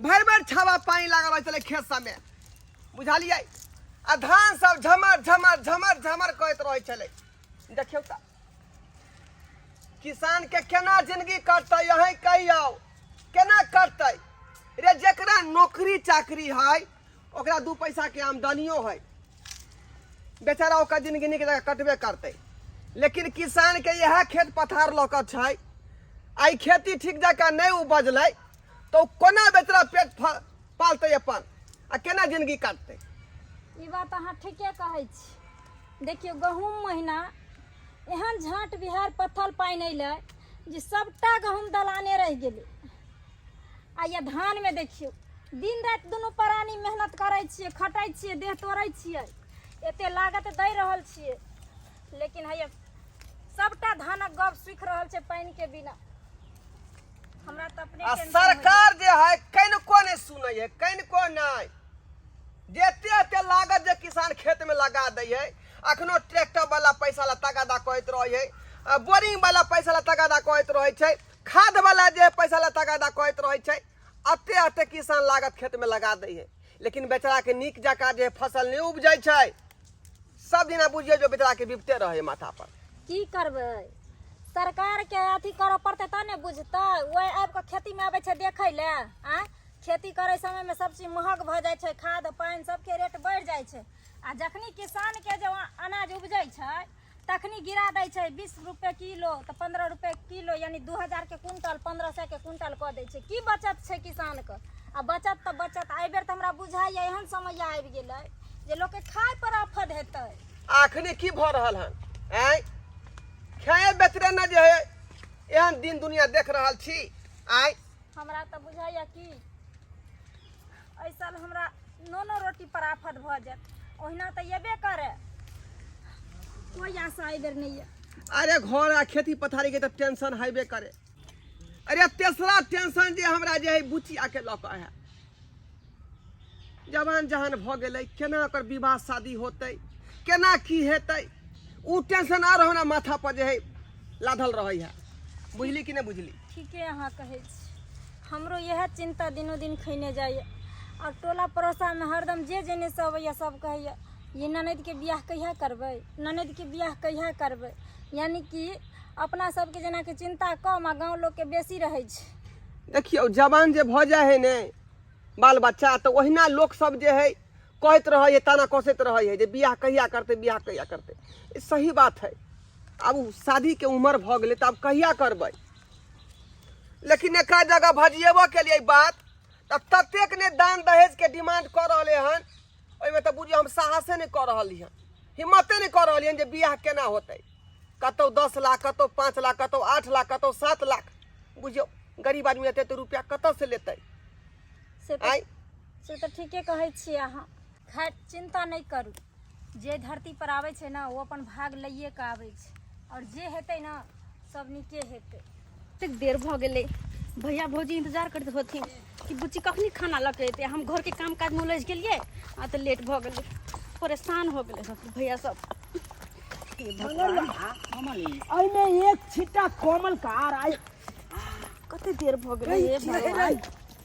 भर भर छावा पानी लागल रहे चले खेत सब में बुझलिए आ धान सब झमर झमर झमर झमर कहत रहे चले देखियो त किसान के केना जिंदगी कटते यही कहियो केना कटते रे जकरा नौकरी चाकरी है ओकरा दू पैसा के आमदनियो है बेचारा ओकर जिंदगी नीक जगह कटबे करते लेकिन किसान के यह खेत पथार लौकत छै आई खेती ठीक जकाँ नहीं उपजलै तो ओ कोना बेचारा पेट फ- पालतै अपन आ केना जिंदगी काटतै ई बात अहाँ ठीके कहै छी देखियौ गहूँम महीना एहन झाँट बिहार पत्थल पानि अयलै जे सभटा गहूँम दलाने रहि गेलै आ ये धानमे देखियौ दिन राति दुनू प्राणी मेहनत करै छियै खटै छियै देह तोड़ै छियै एते लागत दै रहल छियै लेकिन हैया सभटा धानक गप सुखि रहल छै पानिके बिना हमरा तऽ अपने आ टेंशन होइए। सरकार जे है कनिको नहि सुनै है कनिको नहि जेते एते लागत जे किसान खेत में लगा दै है अखनो ट्रैक्टर वाला पैसा ला तगादा कहैत रहै है आ बोरिंग वाला पैसा ला तगादा कहैत रहै छै खाद वाला जे पैसा ला तगादा कहैत रहै छै अते अते किसान लागत खेत में लगा दै है लेकिन बेचाराके नीक जकाँ जे फसल नहि उपजै छै सब दिना बुझियौ जे बेचाराके बिपते रहैए माथापर की करबै सरकारके अथी करऽ पड़तै तब ने बुझतै ओहि आबि कऽ खेतीमे अबै छै देखै लए आँय खेती करै समयमे सब चीज महग भऽ जाइ छै खाद पानि सबके रेट बढ़ि जाइ छै आ जखनी किसानके जे अनाज उपजै छै तखनी गिरा दै छै बीस रुपए किलो तऽ पंद्रह रुपए किलो यानी दू हजार के कुंटल पंद्रह सए के कुंटल कऽ दै छै की बचत छै किसान के आ बचत तऽ बचत एहि बेर तऽ हमरा बुझाइया एहन समय आबि गेलै जे लोक के खाय पर आफत हेतै आखने की भऽ रहल हन आँय खाए बेचरे ने जे है एहन दिन दुनिया देख रहल छी आँय हमरा तऽ बुझाइया की एहि साल हमरा नोनो रोटी पर आफत भऽ जायत ओहिना तऽ एबे करे कोई आशा एहि बेर नहि यऽ अरे घर आ खेती पथारी के तऽ टेंशन हेबे करे अरे तेसरा टेंशन जे हमरा जे है बुचिया के लऽ कऽ है जवान जहान भऽ गेलै केना ओकर विवाह शादी होतै केना की हेतै ओ टेंशन आर हमरा माथा पर जे है लाधल रहै है बुझली कि नहि बुझली ठीके अहाँ कहै छी हमरो इएह चिन्ता दिनो दिन खैने जाइए आओर टोला पड़ोसामे हरदम जे जेनेसँ अबैए सब कहैए ई ननदिके बिआह कहिआ करबै ननदिके बिआह कहिआ करबै यानि कि अपना सबके जेनाकि चिन्ता कम आओर गाँव लोकके बेसी रहै छै देखियौ जवान जे भऽ जाइ हइ ने बाल बच्चा तऽ ओहिना लोकसभ जे हइ कहैत रहै हइ ताना कसैत रहै हइ जे बियाह कहिया करतै बियाह कहिया करतै ई सही बात हइ आब ओ शादीके उमर भऽ गेलै तऽ आब कहिया करबै लेकिन एक जगह भजिएबो के लिए बात तऽ ततेक ने दान दहेज के डिमांड कर रहले हन ओहिमे तऽ बुझियो हम साहसे नहि कर रहली हन हिम्मते नहि कर रहली हन जे बियाह केना होतै कतौ दस लाख कतौ पाँच लाख कतौ आठ लाख कतौ सात लाख बुझियो गरीब आदमी एते तऽ रुपया कतऽ से लेतै से तऽ आइ से तऽ ठीके कहै छियै अहाँ खैर चिन्ता नहि करू जे धरती पर आबै छै ने ओ अपन भाग लैए कऽ आबै छै आओर जे हेतै ने सब नीके हेतै एतेक देर भऽ गेलै भैया भौजी इंतजार करैत होथिन कि बुच्ची कखनी खाना लऽ के एतै हम घरके काम काजमे उलझि गेलियै आ तऽ लेट भऽ गेलै परेशान हो गेलै सब भैया सब हे भगवान, एहिमे एक छिट्टा कोमल कार आइ कते देर भऽ गेलै हे भगवान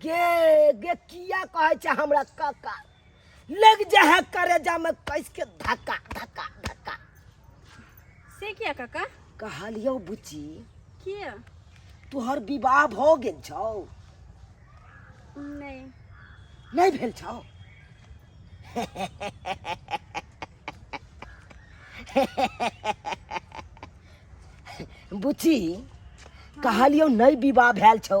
गे गे किया कहै छै हमरा काका लग जा है करेजा में कस के धक्का धक्का धक्का से किया काका कहलियो बुची किया तोहर विवाह भ गेल छौ नहीं नहीं भेल छौ बुची कहलियो नहीं विवाह भेल छौ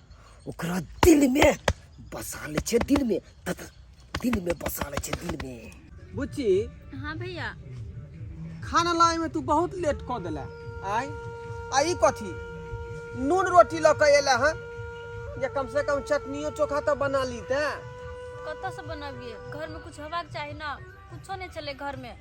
ओकरा दिल में बसा ले छे दिल में तथा दिल में बसा ले छे दिल में बुच्ची हाँ भैया खाना लाए में तू बहुत लेट कर दिला आय आई कथी नून रोटी लऽ के एला हँ या कम से कम चटनियो चोखा तो बना ली ते कतऽ से बनाबिए घर में कुछ होबाक चाही ना कुछो नहीं चले घर में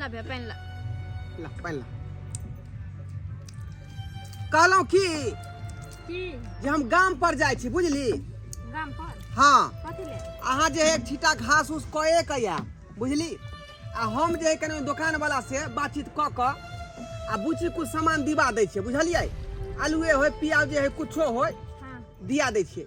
ला भैया पेन ला ला पानि ला कहलहुँ की की जे हम गाम पर जाइ छी बुझली गाम पर हाँ कथी ले अहाँ जे है एक छीटा घास उस कए के या बुझली आ हम जे है कने दोकान वाला से बातचीत क क आ बुची कुछ सामान दिवा दै छियै बुझलियै आलूए होय प्याज जे है कुछो होय हाँ दिया दै छियै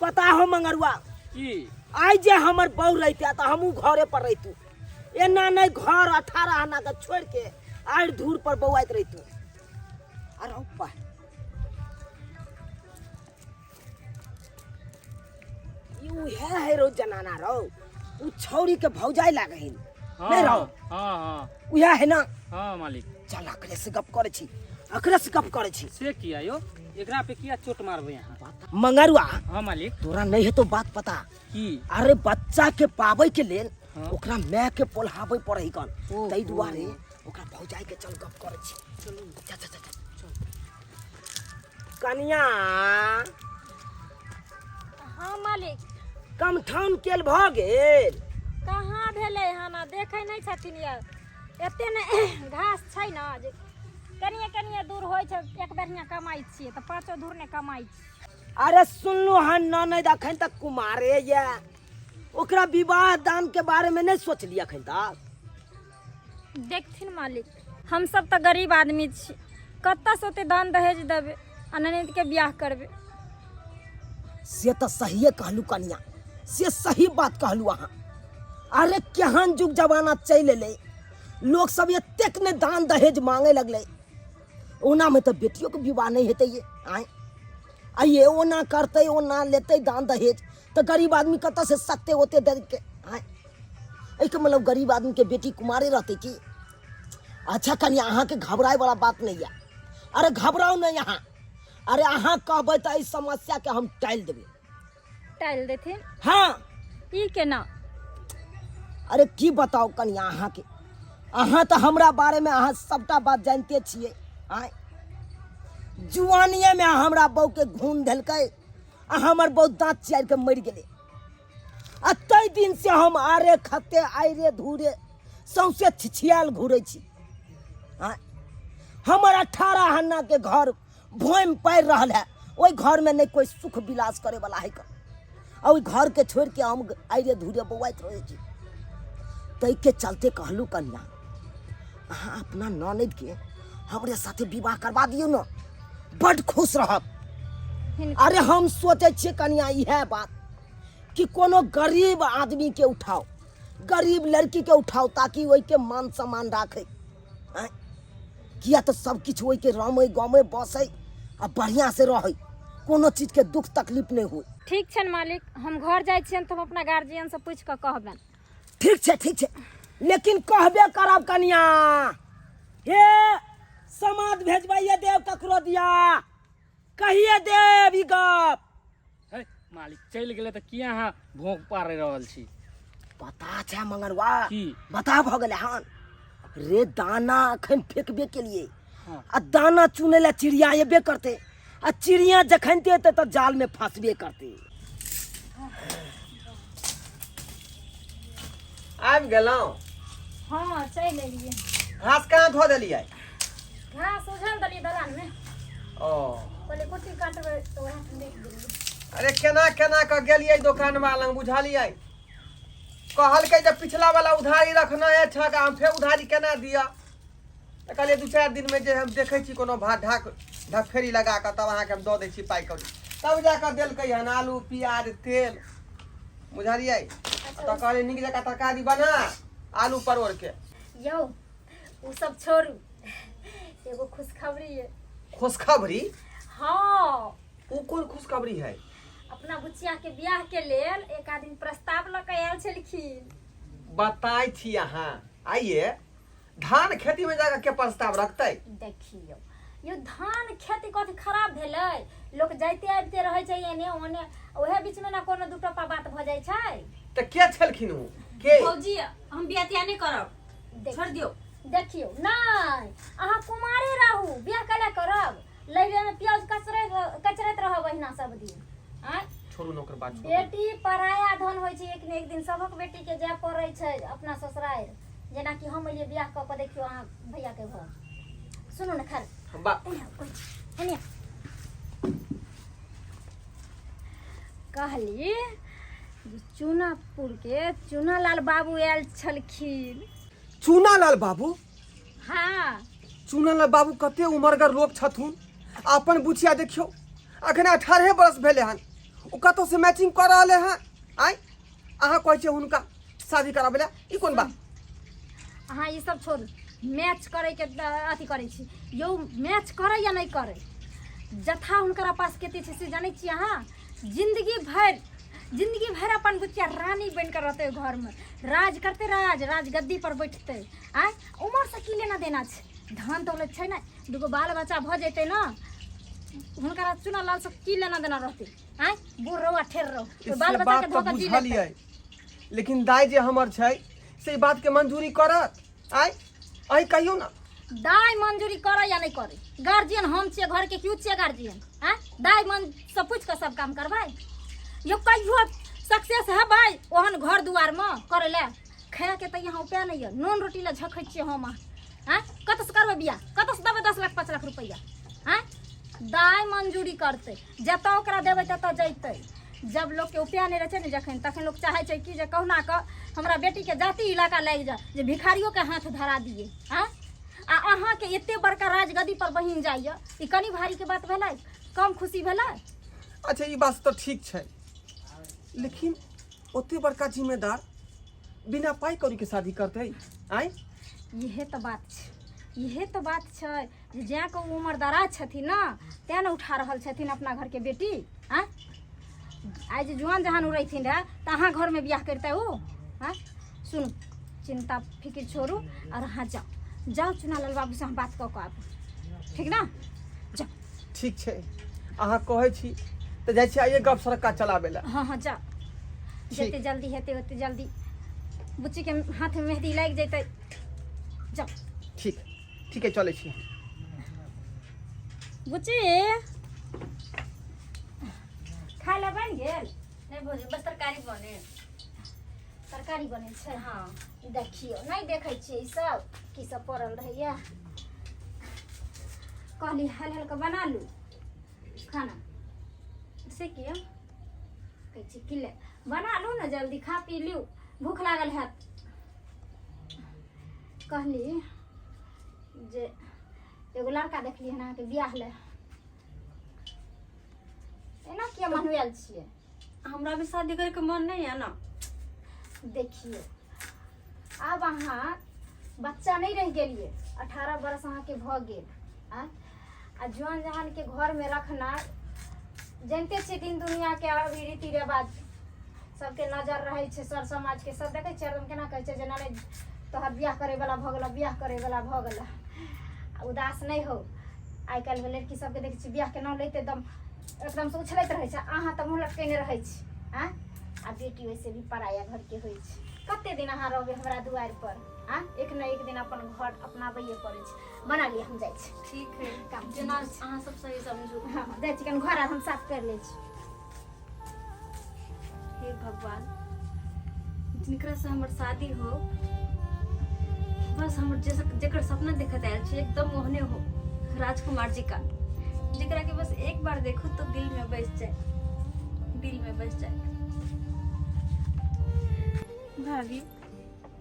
पता हो मंगरुआ की आइ जे हमर बहू रहिते तऽ हमहूँ घरे पर रहितू एना नहि घर अठारह आना के छोड़ के आड़ि धूर पर बौआइत रहितू आ रहू पा ई उहे है रो जनाना रौ उ छौरी के भौजाई लागे हिन हाँ, नहीं रहो। हाँ हाँ उहे है ना हाँ मालिक चल अकरे से गप करे छी अकरे से गप करे छी से किया यो एकरा पे किया चोट मारबे यहाँ मंगरुआ हाँ मालिक तोरा नहीं है तो बात पता की अरे बच्चा के पावे के लेल हाँ। ओकरा माय के पोल्हावे पड़े ही कन ओहो। तई दुआरे ओकरा भौजाई के चल गप करे छी चल चल चल चल कनिया हाँ मालिक कमठान केल भ गेल कहाँ भेलै हन देखे नहीं छथिन यार एते ने घास छै ने जे कनिए कनिए दूर होइ छै एक बेरिया कमाइ छियै तऽ पाँचो दूर नहि कमाइ छियै अरे सुनलू हँ ननद अखन तक कुमारे ये ओकरा विवाह दान के बारे में नहीं सोचली अखन तक देखथिन मालिक हमसभ तऽ गरीब आदमी छी कतऽसँ ओते दान दहेज देबै आ ननदिके बियाह करबै से तऽ सहिए कहलू कनिया से सही बात कहलू अहाँ अरे केहन जुग जमाना चलि एलै लोक सब एतेक ने दान दहेज मांगे लगलै ओनामे तऽ बेटियोके विवाह नहि हेतै ये आँय आ ये ओना करतै ओना लेतै दान दहेज तऽ गरीब आदमी कतऽसँ सत्ते ओते देलकै आँय एहिके मतलब गरीब आदमीके बेटी कुमारे रहतै की अच्छा कनिया अहाँके घबराए वाला बात नहीं है अरे घबराओ नहीं यहाँ अरे अहाँ कहबै तऽ एहि समस्या के हम टालि देबै टालि देथिन हाँ ई केना अरे की बताओ कनिया अहाँके अहाँ तऽ हमरा बारे में अहाँ सबटा बात जानते छियै आय जुआनिए में हमरा बहू के घून धेलकै आ हमर बहू दाँत चियार के मरि गेलै आ ताहि दिन से हम आरे खते आइरे धूरे सौंसे छिछियाल घूरे छी आँय? हमर अठारह हन्ना के घर भोम पड़ रहल है ओहि घर में नहीं कोई सुख विलास करे वाला है आ ओहि घर के छोड़ के हम आइरे धूरे बौआइत रहे छी ताहि के चलते कहलू कन्या अहाँ अपना ननद के हमरे साथे विवाह करवा दियौ ने बड खुश रहब अरे हम सोचे छियै कनिया इहे बात कि कोनो गरीब आदमी के उठाओ गरीब लड़की के उठाओ ताकि वही के मान सम्मान राखे किया तो सब किछ वही के रमे गमे बसे आ बढ़िया से रहे कोनो चीज के दुख तकलीफ नहीं हुए ठीक छन मालिक हम घर जाए छियन तो हम अपना गार्जियन से पूछ के कहबन ठीक छे ठीक छे लेकिन कहबे करब कनिया हे समाद भेजबाइए देव ककरो दिया कहिए देव ई गप हे, मालिक चलि गेलै तऽ किया अहाँ भोंक पारि रहल छी पता छै मंगरवा की बता भऽ गेलै हन रे दाना अखन फेकबे केलिए हँ। आ दाना चुनै लए चिड़िया एबे करते आ चिड़िया जखन ते एतै तऽ जाल में फंसबे करते आबि गेलहुँ हाँ चलि एलियै घास कहाँ धो देलियै घास उझल देलियै दलानमे ओ कहलियै कुट्टी काटबै तऽ वएह ठंडे देलियै अरे केना केना कऽ गेलियै दोकानवा लग बुझलियै कहलकै जे पिछला वाला उधारी रखना है ठका हम फेर उधारी केना दिअ तऽ कहलियै दू चारि दिनमे जे हम देखै छी कोनो भात ढाक ढकफेरी लगा कऽ तब अहाँके हम दऽ दै छी पाइ कौड़ी तब जा कऽ देलकै हन आलू प्याज तेल बुझलियै तऽ कहलियै नीक जकाँ तरकारी बना आलू परोरके यौ ओ सब छोड़ू एगो खुशखबरी है खुशखबरी हाँ ओ कोन खुशखबरी है अपना बुचिया के ब्याह के लेल एक आदमी प्रस्ताव लऽ के आयल छलखिन बताइ छी अहाँ आइए धान खेती में जाकर के प्रस्ताव रखते देखियो यो धान खेती कथी खराब भेलै लोक जाइते आबिते रहै छै एने ओने ओहे बीच में ना कोनो दू टका बात भ जाइ छै तो के छलखिन ओ के भौजी हम बियाह तियाह नहि करब देख- छोड़ दियौ देखियो नहि अहाँ कुमारे रहू बियाह कैला करब लैरे में प्याज कचरे कचरैत रहब अहिना सब दिन आँय छोड़ू ना ओकर बात छोड़ू बेटी पराया धन होइ छै एक ने एक दिन सभक बेटी के जाय पड़ै छै अपना ससुरारि जेनाकि हम अलियै बियाह कऽ कऽ देखियौ अहाँ भैया के घर सुनू ने खैर कहली चूनापुर के चूनालाल बाबू आयल छलखिन चूनालाल बाबू हाँ चूनालाल बाबू कते उमरगर लोग छथुन अपन बुचिया देखियो अखने अठारह बरस भेले हन ओ कतौ से मैचिंग कर रहले हन आय अहाँ कहै छियै हुनका शादी कराबै लए ई कोन बात अहाँ ई सब छोड़ू मैच करैके अ- अथी करै छी यौ मैच करै या नहि करै जथा हुनकरा पास कते छै से जानै छी अहाँ जिंदगी भरि जिंदगी भरि अपन बुचिया रानी बनि कऽ रहतै ओहि घरमे राज करतै राज राज गद्दी पर बैठतै आँय उमरसँ की लेना देना छै धन दौलत छै ने दूगो बाल बच्चा भऽ जेतै ने हुनकरा चुना लालसँ की लेना देना रहतै आय बूढ़ रहो आ ठेर रहो से बाल बच्चा बात के तो धोखा दी बुझलियै लेते लेकिन दाय जे हमर छै से ई बात के मंजूरी करत आय अही कहियो ना दाय मंजूरी करे या नहीं करे गार्जियन हम छिए घर के क्यों छिए गार्जियन आय दाय मन सब पूछ के सब काम करबै यो कहियो सक्सेस हेबै ओहन घर दुआर में करे ले खाए के तऽ यहाँ उपाय नहीं है नून रोटी ले झखै छिए हम आय कतऽ से करबै बियाह कतऽ से देबै दस लाख पाँच लाख रुपैआ आय दाय मंजूरी करतै जतऽ ओकरा देबै ततऽ जैतै जब लोकके उपाय नहि रहै छै ने जखन तखन लोक चाहै छै कि जे कहुना कऽ हमरा बेटीके जाति इलाका लागि जाए जे भिखारियोके हाथ धरा दिए आँ आ अहाँके एते बड़का राजगदी पर बहिन जाइए ई कनी भारीके बात भेलै कम खुशी भेलै अच्छा ई बात तऽ ठीक छै लेकिन ओते बड़का जिम्मेदार बिना पाइ कौड़ीके शादी करतै आँय इहे तऽ बात छै इहे तऽ बात छै जे जैं के ओ उमर दराज छथिन ने तैं ने उठा रहल छथिन अपना घरके बेटी आँय आइ जे जुआन जहान उड़ैथिन रहए तऽ अहाँ घरमे बियाह करितै ओ आँय सुनू चिन्ता फिकिर छोड़ू आओर अहाँ जाउ जाउ चुनालाल बाबूसँ हम बात कऽ कऽ आबू ठीक ने जाउ ठीक छै अहाँ कहै छी तऽ जाइ छी आइए गप सड़का चलाबै लए हँ हँ जाउ ठीक। जते जल्दी हेतै ओते जल्दी बुच्चीके हाथमे मेहदी लागि जेतै जाउ ठीक ठीक है चले छी बुची खाय ले बन गेल नहीं भोजी बस तरकारी बने तरकारी बने छै हाँ ई देखियो नहीं देखे छियै ई सब की सब पड़ल रहैया कहली हल हल के बना लू खाना से किया कहै छी कि ले बना लू ने जल्दी खा पी लियू भूख लागल हैत कहली जे एगो लड़का देखली हन अहाँके बियाह ले एना किया मनवेल छियै हमरा भी शादी करे के मन नहीं है ना देखिए आब अहाँ बच्चा नहीं रह गेलिए अठारह बरस अहाँके भऽ गेल आ आ जौन जहान के घर में रखना जानते छी दिन दुनिया के अभी रीति रिवाज सबके नजर रहे छै सर समाज के सब देखे छियै एकदम केना कहे छै जेना नहि तोहर बियाह करे वाला भऽ गेला बियाह करे वाला भऽ गेला आ उदास नहि हो आइ काल्हि के लड़की सबके देखे छियै बियाह के नाम लैते एकदम एकदम से उछलैत रहे छै अहाँ तऽ मुँह लटकेने रहे छी आँ आ बेटी वैसे भी पराया घर के होइ छै कते दिन अहाँ रहबै हमरा दुआरि पर आँ एक ने एक दिन अपन घर अपनाबैये पड़ै छै बना लिअ हम जाइ छी ठीक है काम जेना अहाँ सब सही समझू हँ जाइ छी कनि घर आर हम साफ करि लै छी हे भगवान जिनकरा से हमर शादी हो बस हमर जैसे जेकर सपना देखत आयल छी एकदम ओहने हो राजकुमार जी का जेकरा के बस एक बार देखो तो दिल में बस जाए दिल में बस जाए भाभी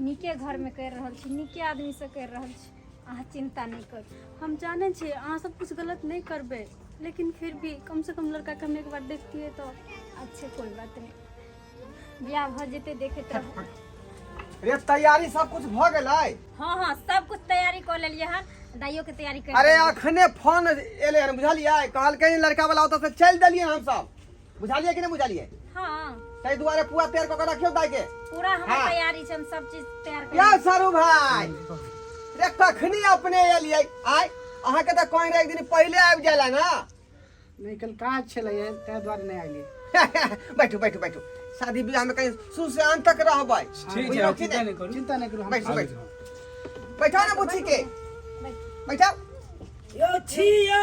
नीके घरमे करि रहल छी नीके आदमीसँ करि रहल छी अहाँ चिन्ता नहि करू हम जानै छी अहाँ सब कुछ गलत नहीं करबे लेकिन फिर भी कम से कम लड़का के हम एक बार देखतिए तो अच्छे कोई बात नहीं बियाह भऽ जेतै देखैत रहू रे तैयारी सब कुछ भ गेलै हाँ हाँ सब कुछ तैयारी कर लेलिए हन दाइयो के तैयारी कर अरे अखने फोन एले हन बुझलियै कहलकै लड़का वाला ओतऽ से चलि देलियै हम सब बुझालिए कि नहीं बुझालिए हाँ तै दुआरे पुआ तैयार कऽ के रखियो दाई के पूरा हमर हाँ। तैयारी छै हम सब चीज तैयार कर यौ सरू भाई रे कखनी अपने एलियै आय अहाँ के तऽ कहीं रहे एक दिन पहिले आबि जाला ना नहीं कल काज छले ताहि दुआरे नहीं आइलिए बैठू बैठू बैठू शादी ब्याह में कहीं शुरू से अंत तक रहबै ठीक बुझलौ है कि चिंता नहीं? नहीं करू चिंता नहीं करू हम बैठू बैठू बैठा ना बुच्ची के बैठा यो छियो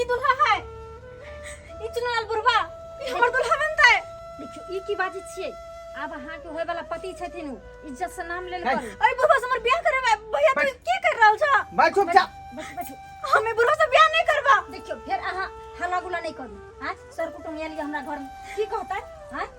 ई दुल्हा है ई चुनाल बुढ़वा ई हमर दुल्हा बनता है देखियो ई की बाजी छियै आब अहाँ के होय वाला पति छथिन उ इज्जत से नाम लेल है। करू अरे बुढ़वा से हमर ब्याह करे बा। भैया तू की कर रहल छ बैठ चुप जा बैठू बैठू हमें बुढ़वा से ब्याह नहीं करबा देखियो फेर अहाँ हल्ला गुला नहीं करू हाँ सर कुटुम आयल हमरा घर में की कहता हाँ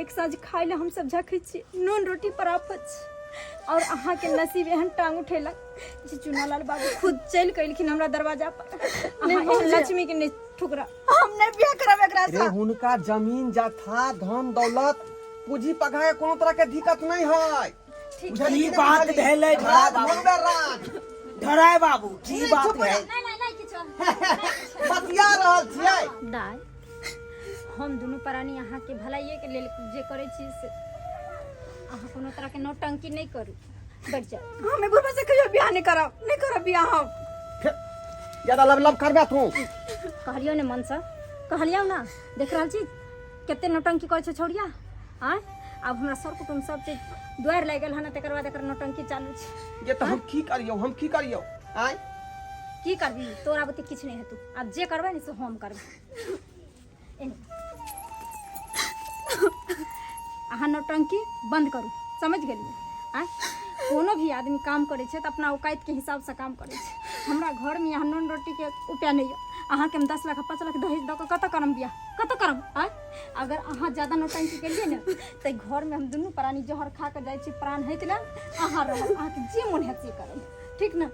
एक साँझ खाय ले हम सब झखै छी नून रोटी पर आफत छी और अहाँ के नसीब एहन टांग उठेलक जे चुनालाल बाबू खुद चलि के एलखिन हमरा दरवाजा पर अहाँ एहन लक्ष्मी के नहि ठुकरा हम नहि बियाह करब एकरा रे साथ हुनका जमीन जथा धन दौलत पूंजी पघा के कोनो तरह के दिक्कत नहीं है की बात भेलै धराय बाबू धराय बाबू की बात भेल नहीं नहीं नहीं किछो बतिया रहल छियै दाय हम दुनू प्राणी अहाँके भलाइए के लेल जे करै छी से अहाँ कोनो तरह के नौटंकी नहीं करू बैठ जाओ हमें बुढ़वा से कहियो बियाह नहीं करब नहीं करब बियाह हम ज्यादा लब लब करबे तू कहलियो ने मन से कहलियो ना देख रहल छी कते नौटंकी करै छै छौड़िया आँय आब हमरा सर कुटुम सब चीज दुआरि लागि गेल हन तकर बाद एकर नौटंकी चालू छै ये तो हम की करियो हम की करियो आय की करबी तोरा बुते किछु नहि हेतौ आब जे करबै ने से हम करबै एने। अहाँ नौटंकी बंद करू समझ गेलियै आँय कोनो भी आदमी काम करै छै तऽ अपना औकातिके हिसाबसँ काम करै छै हमरा घरमे यहाँ नून रोटीके उपाय नहि यऽ अहाँके हम दस लाख पाँच लाख दहेज दऽ कऽ कतऽ करम बियाह कत करब आय अगर अहाँ ज्यादा नौटंकी केलिए ने ते घर में हम दुनू प्राणी जहर खा के जाय छी प्राण हेत ले अहाँ रहब अहाँ के जे मन हेत से करब ठीक ने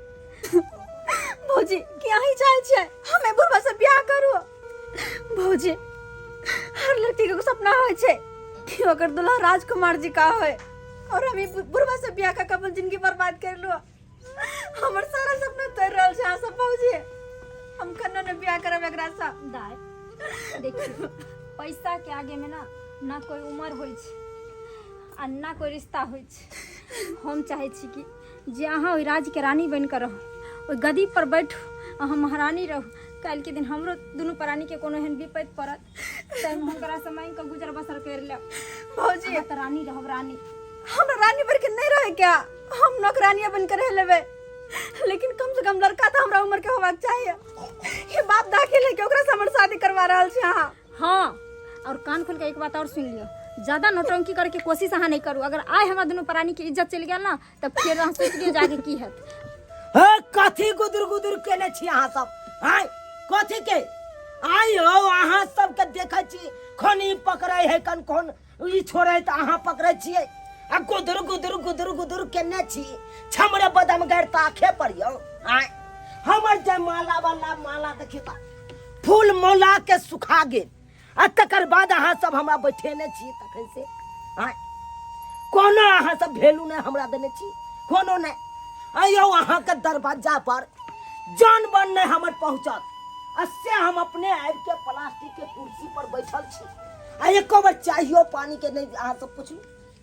भौजी कि अही चाहे छे हमें बुढ़वा से ब्याह करू भौजी हर लड़की के सपना होय छे कि ओकर दुल्हा राजकुमार जी का होय और हम ई बु- बुढ़वा से ब्याह का कबल जिंदगी बर्बाद कर लो हमर सारा सपना तोड़ रहल छै अहाँ सब बाबूजी हम कन्नो ने बियाह करब एकरा से दाय देखियो पैसा के आगे में ना ना कोई उम्र होइ छै आ ना कोई रिश्ता होइ छै हम चाहे छी कि जे अहाँ ओहि राज्य के रानी बनि कऽ रहू ओहि गदी पर बैठू अहाँ महारानी रहू काल्हि के दिन हमरो दुनू प्राणी के कोनो एहन विपत्ति पड़त तैं हम ओकरा से मांगि के गुजर बसर कर ले भौजी हम त रानी रहब रानी हमरा रानी बन के नहीं रहे क्या हम नौकरानिया बन के रह लेबे लेकिन कम से कम लड़का तो हमरा उम्र के होबाक चाहिए ये बाप दाखिल है कि ओकरा से हमर शादी करवा रहल छी अहाँ हाँ और कान खोल के एक बात और सुन लियो ज्यादा नौटंकी करे के कोशिश अहाँ नहीं करू अगर आय हमरा दोनों प्राणी के इज्जत चल गया ना तऽ फेर अहाँ सोचि लियौ जाके की हैत हे कथी गुदुर गुदुर केने छी अहाँ सब आय कथी के आय हो अहाँ सबके देखै छी कोन ई पकड़ै है कन कोन ई छोड़ै तऽ अहाँ पकड़ै छियै आ गुदुर गुदुर गुदुर गुदुर केने छी छमरे बदम गैर तऽ आखे पर यौ आय हमर जे माला वाला माला देखी तऽ फूल मौला के सुखा गेल आ तकर बाद अहाँ सब हमरा बैठेने छी तखन से आँय कोनो अहाँ सब भेलू नहि हमरा देने छी कोनो नहि आयौ अहाँके दरवाजा पर जान बन नहि हमर पहुँचत आ से हम अपने आबि के प्लास्टिक के कुर्सी पर बैठल छी आ एको बेर चाहियो पानी के नहि अहाँ सब पुछलू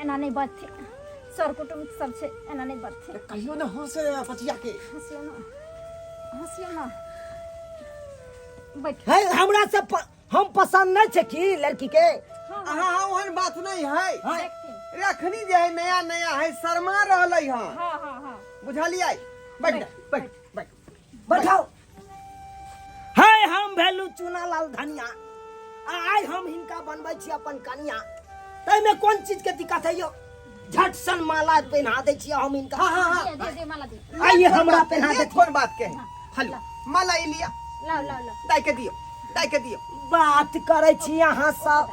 एना नहि बजथिन सर कुटुम्ब सब छै एना नहि बजथिन कहियो ने हंसे बचिया के हंसियो ना हंसियो ना बैठ है हमरा से प, हम पसंद नहीं छे की लड़की के हाँ हाँ हाँ ओहन बात नहीं है हाँ। देखथिन रखनी जे है नया नया है शर्मा रहलै हँ हाँ हाँ हाँ बुझलियै बैठ जा, बैठ बैठ बैठाओ है हम भेलू चूना लाल धनिया आ आइ हम हिनका बनबै छी अपन कनिया ताहिमे कोन चीजके दिक्कत है यौ झट सन माला पहना दै छियै हम हिनका हाँ हाँ हाँ दे दे माला दे आइए हमरा पहना ये दे कोन बात के है हेलो माला ई लिया लाओ लाओ लाओ दाई के दियो दाई के दियो बात करै छी अहाँ सब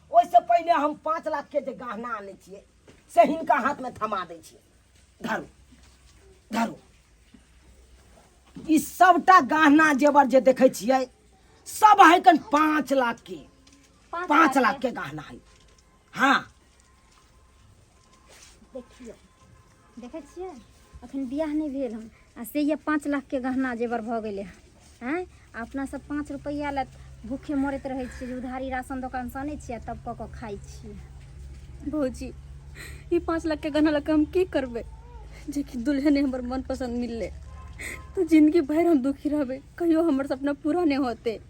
ओहिसँ पहिने हम पाँच लाखके जे गहना आनै छियै से हिनका हाथमे थमा दै छियै धरू धरू ई सभटा गहना जेवर जे देखै छियै सब है कन पाँच लाखके पाँच लाखके गहना है हँ देखियौ देखै छियै अखन बियाह नहि भेल हन आ से यए पाँच लाखके गहना जेवर भऽ गेलै हन आँय आ अपनासभ पाँच रुपैआ लए भूखे मरैत रहै छियै जे उधारी राशन दोकानसँ आनै छियै आ तब कऽ कऽ खाइ छियै भौजी ई पाँच लाखके गहना लऽ कऽ हम की करबै जेकि दुल्हने हमर मनपसन्द मिललै तऽ जिनगी भरि हम दुखी रहबै कहियो हमर सपना पूरा नहि होतै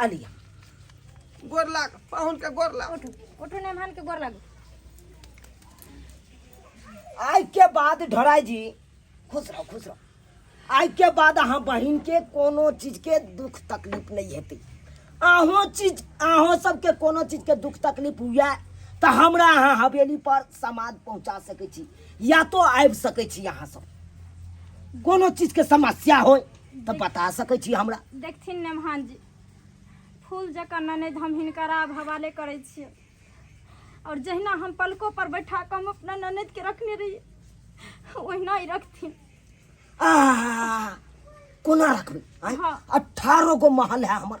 अलिया गोर लाग पाहुन के गोर लाग उठू उठू नेमान के गोर लागू आइ के बाद ढोराई जी खुश रहो खुश रहो आइ के बाद अहाँ बहिन के कोनो चीज के दुख तकलीफ नहीं हेतै अहो चीज अहो सबके कोनो चीज के दुख तकलीफ हुए तऽ हमरा अहाँ हवेली पर समाद पहुँचा सकै छी या तो आबि सकै छी अहाँ सब कोनो चीज के समस्या होय तऽ बता सकै छी हमरा देखथिन ने महान जी फूल जकाँ ननद हम हिनकर आब हवाले करै छियै आओर जहिना हम पलको पर बैठा कऽ हम अपना ननद के रखने रहियै ओहिना ही रखथिन आह, कोना रखबै आँय? हँ। अठारह गो महल है हमर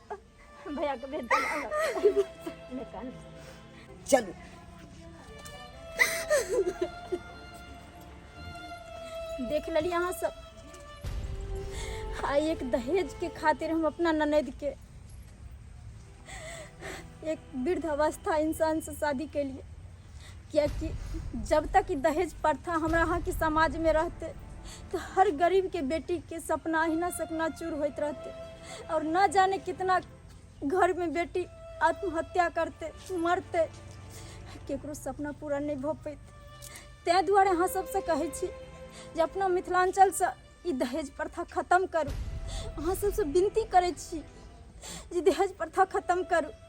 भैया के भेज दे निकाल चलू देख लेली अहाँ सब आ एक दहेज के खातिर हम अपना ननद के एक वृद्ध अवस्था इंसान से शादी के लिए कियाकि जब तक ई दहेज प्रथा हमरा यहाँ के समाज में रहते तो हर गरीब के बेटी के सपना अहिना सपना चूर होइत रहते और न जाने कितना घर में बेटी आत्महत्या करते मरते केकरो सपना पूरा नहीं भऽ पैत ताहि दुआरे अहाँ सबसँ कहै छी जे अपना मिथिलाञ्चलसँ ई दहेज प्रथा खतम करू अहाँ सबसँ विनती करै छी जे दहेज प्रथा खतम करू